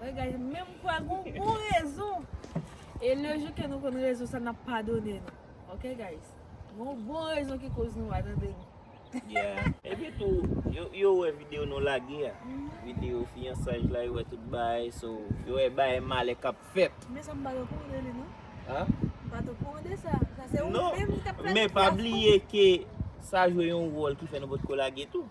Wè guys men m kwè gon bon rezon e le jou ke nou konn rezon sa nap padone nou ok guys gon bon rezon ki koz nou pa tande nou. Yeah epi tou yo wè video nou lage a video fiyansaj la yo wè tout bagay so yo wè bagay malè kap fèt. Men sa m pat okou de li non. An? M pat okou de sa. Sa se ou menm ki tap planifiye a fou. Non men pa bliye ke sa jwe yon wòl ki fè nou potko lage tou.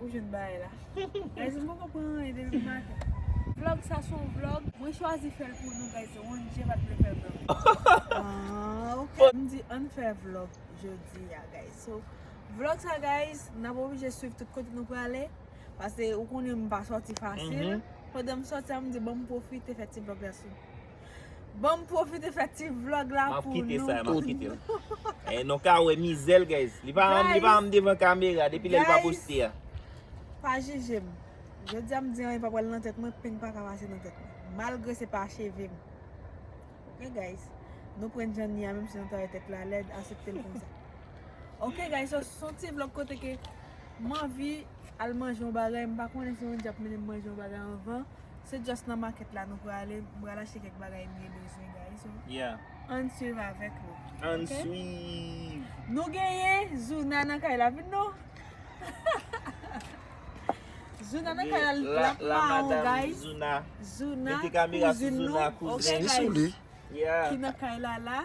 Ou jwenn bagay la. Guys m poko pran anyen depi maten. Vlog sa son vlog mwen chwazi fèl pou nou guys Rondjie pat vle fè vlog. Aah ok. M di ann fè vlog jodi a guys. So vlog sa guys nap oblije swiv tout kote nou prale pase ou konnen m pa sòti fasil. Pandan m sòti a m di bon m pwofite fè ti vlog la sou. Banm profite fè ti vlog la pou nou. Map kite sa, map kite l. Nou ka wè mizè l guys. Li pa anm devan kamera depi lè li pa poste a. Pa jije m. Jodi a m di anyen pa pral nan tèt mwen, peny pa ka pase nan tèt mwen. Malgre se pa cheve m. Ok guys. Nou pran jan ni a menm si nou ta wè tèt la lèd, asepte l konsa. Ok guys, son ti vlog kote ke m anvi. Al manje yon bagay, m pa konnen si yon di ap mennen m manje yon bagay anvan, se just nan market la nou prale, m pral achte kèk bagay mye bezwen guys yo. Ann swiv avèk nou. Ann swiv! Nou genyen Zuna nan kay la vin non. Zuna nan kay la li la ap maron guys. Zuna, kouzin nou, ok guys, ki nan kay la la.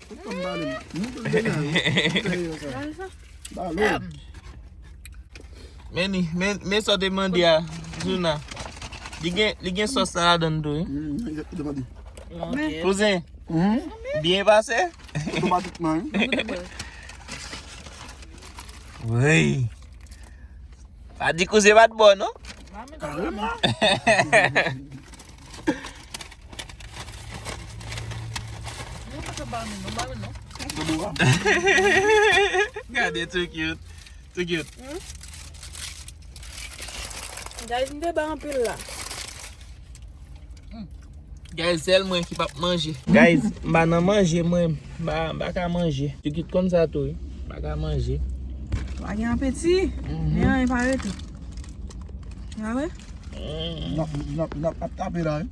Meni, men sa deman di a, Zuna. Li gen sos sa la dan do. Kouzen, biye pase? Wey! Pa di kouzen bat bon, non? Kare man! Gade too cute Too cute Guys m te bay anpil la Guys sel mwen ki pap manje Guys m pa nan manje mwen M pa ka manje Too cute konn sa tou wi M pa ka manje Ou pa gen apeti Men an e pa rete Ou pa wè Nap tape la wi.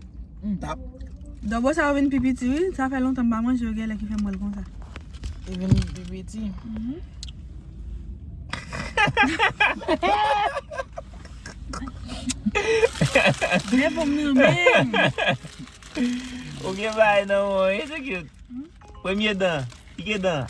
Dobo sa yo vin pi piti wi. Sa fè lontan m pa manje yo gen lè ki fè m wè l konsa. Yo vin pi piti. Dre pou m nan menm. Ou gen bagay nan menw wi. Premye dan. Pike dan.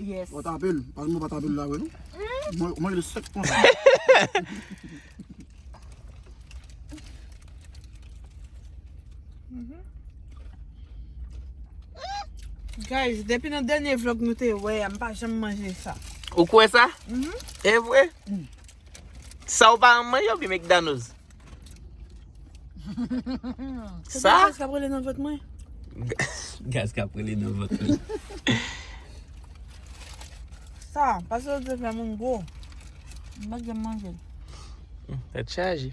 Yes. Mwen tape l. Pas mwen pa tape l la wè. Mwen mwen le sek kon. Guys, depi nan denye vlog nou te wè, m pa janm manje sa. Ou kwè sa? E vre? Sa ou pa renmn manje ou byen mcdanoz? Sa? Gaz kap rele nan vant mwen. Gaz kap rele nan vant mwen. Sa, pase ou dwe fè moun gwo. Mwen pa gen manje. Tèt chaje.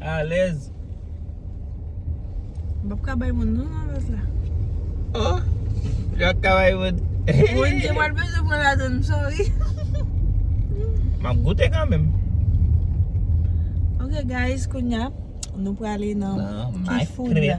Alèz. M pap ka bay moun non nan vaz la. Oh! Ou pa ka bay moun. Moun ki pral bezwen pran ladan m sorry. M ap goute kanmenm. Ok guys, kounya nou prale nan Key food la.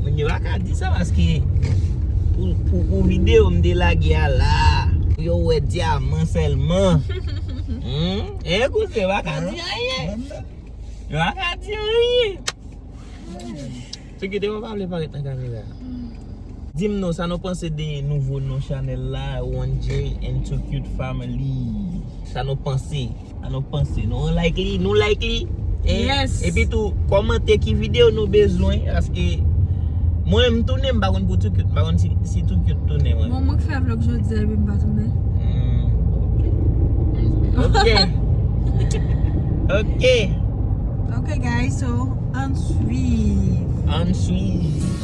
Moun yo pa ka di sa paske pou video m te lage a la pou yo wè dyaman sèlman Eeh kouzen yo pa ka di anyen Yo pa ka di anyen Sekirite mwen pa vle parèt nan kamera Dim non sa nou panse de nouvo non chanel la one jay and two cute family sa nou panse sa nou panse nou like li nou like li yes epi tou komante ki video nou bezwen paske mwen m tounen m pa konn pou two cute m pa konn si two cute tounen mwen bon mwen k fè vlog jodi a epi m pa tounen ok ok ok ok guys so ann swiv ann swiv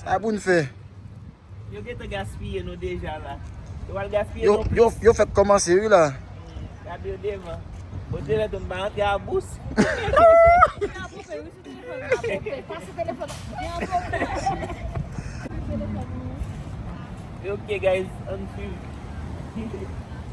Sa pou n fè? Yo gentan gaspiye nou deja la. Yo pral gaspiye nou plis. Yo, yo fèk kòmanse wi la. Gade yo devan. Bon Dieu lèd ou m pa rantre a bous. Ok guys, ann swiv.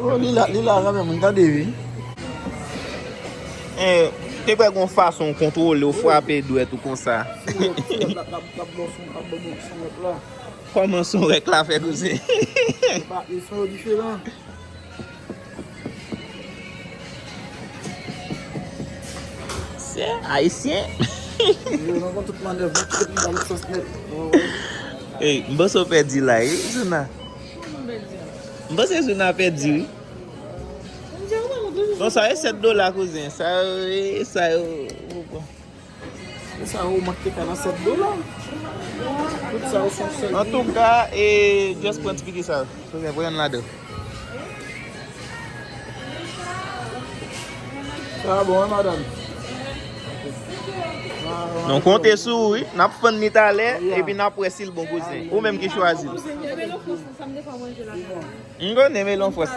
Oh lila lila renmen moun tande ui. Eh, te kwè gon fason ou kontwole ou frape dwèt ou konsa. Kòman son rèk la fè koze. Se ayisyen. Yo nan kon tout manèv mwen kite pou bal sòs nèt. Ey, m panse w pèdi la wi Djouna. M panse Djouna pèdi wi. Bon sa e 7 dola kouzen. Sa yo e sa yo. Antouka e just pran ti piki sa yo. Nou konte sou ou wi, nap fann ni talè, epi nap wè sil bon kouzen. Ou menm ki chwazi. M konnen melon fwans.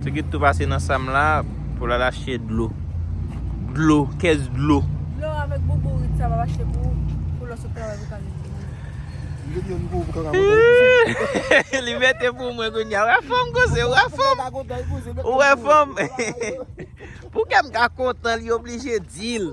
Se ki tou pase nan sam la pou la lache dlo. Dlo, kès dlo. Dlo avèk boubou rit sa va lache pou ou pou lò sou travay pou kal mete nan. Li gen boubou pou kaka mete. Li mete pou mwen koun ya. Ou wè fanm koze, ou wè fanm. Ou wè fanm. Pou kèm ka kontan li oblije dil.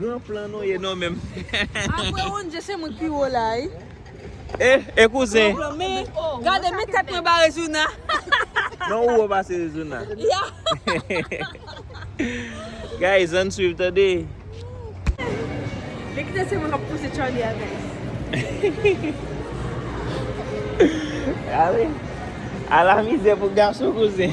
Gran plan nou ye non menm. Apre Ronje se mwen ki pi wo la wi. E kouzen. Gade men tèt mwen ba Rezouna. Non ou wo pase Rezouna. Guys ann swiv tande. Li kite se mwen kap pouse Charly a guys. Ala mizè pou gason kouzen.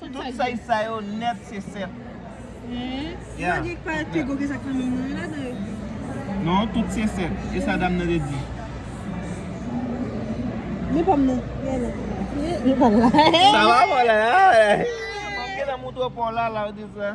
Tout fèy sa yo nèt se 7. Non tout se 7. E sa dam nan te di. Sa va pou la. Mwen gen nan moutre pou la la ou di sa.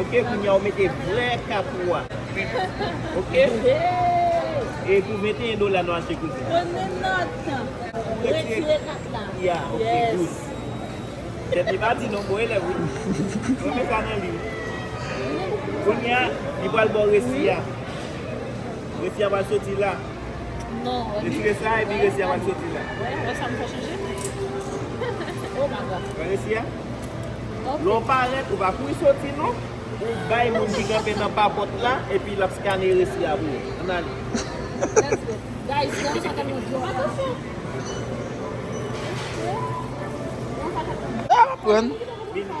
Ok kounya ou mete vrè kapou a ok e pou 21 dola nou achte kouzin premye nòt ou retire kat la ya ok good tèt li pa di non bon elèv wi mwen men sa nan li kounya li pral baw resi a resi a pral soti la non retire sa epi resi a pral soti la wè wè sa m fè chanje oh my god wè resi a. Lè w parèt, ou pa kouri soti non. Ou bay moun ki kanpe nan pa pòt la epi l ap skane resi a pou ou. Ann ale. Let's go. Guys, fè yon sa kèm nan dlo a. Atansyon! Fè yon sa kèm nan dlo a. L ap aprann. Vini.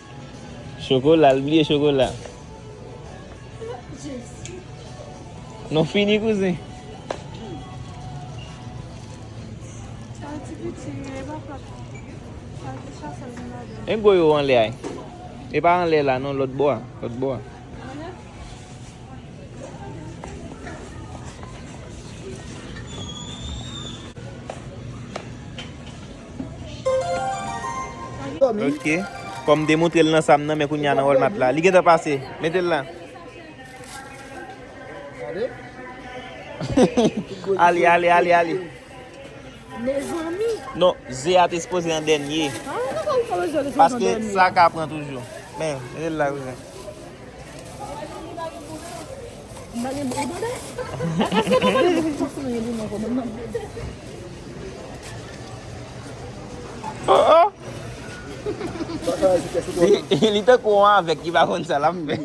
Chokola l bliye chokola. Nou fini kouzen. E gwo yo anle ay. E pa anle la non lot bo a. Lot bo a. Ok Fò m te moutre l nan sa m nan men kounye a nan Walmart la Li gen tan pase Mete l la Ale ale ale ale Mezanmi Non ze a te sipoze an dènye Paske sa ka pran toujou Men Mete l la kouzen Li tankou yon avèg ki pa konn sa l ap fè.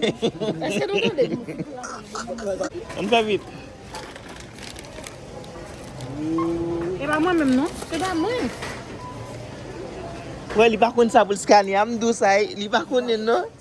Ann fè vit. Kwè li pa konn sa pou l skane a. M di w sa, li pa konnen non.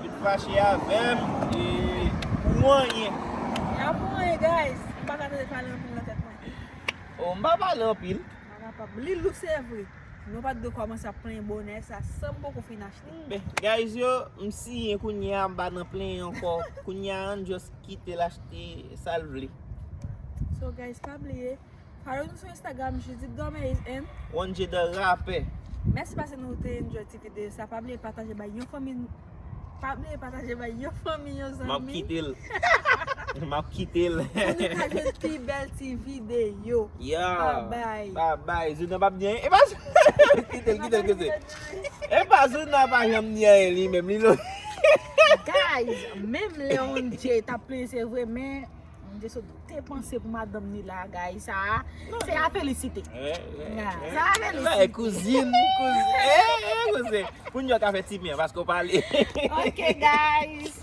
Li t fache avèm e pou anyen. Y'a pou anyen guys. M paka tande pale anpil nan tèt mwen. Oh m pa pale anpil. Li lou se vre. Nou pat dwe kòmanse ap plenyen bonè sa san m poko fin achte. Ben guys yo m siyen kounye a m pa nan plenyen ankò kounye a ann just kitel achte sal vle. So guys pa bliye. Follow nou sou Instagram Judith Gomez and. Wonje the rapper. Mèsi paske nou te enjoy ti video sa. Pa bliye pataje bay yon fanmi Pa bliye pataje bay yon fanmi, yon zanmi. Map kite l. Map kite l. Pou nou ka jwenn pi bèl ti video. Yeah. Babay. Babay. Juna pap di anyen. Epa Juna. Kite l, kite l, kite l. Epa Juna pa janm di anyen li menm. Li lou. Guys, menm lè Wonje tap plenyen se vre men Mwen te sot te panse pou madanm ni la guys sa a se a felisite. Sa a felisite. Kouzin, kouzin. Pou nyon ka fè ti mè paske ou pale. Ok guys.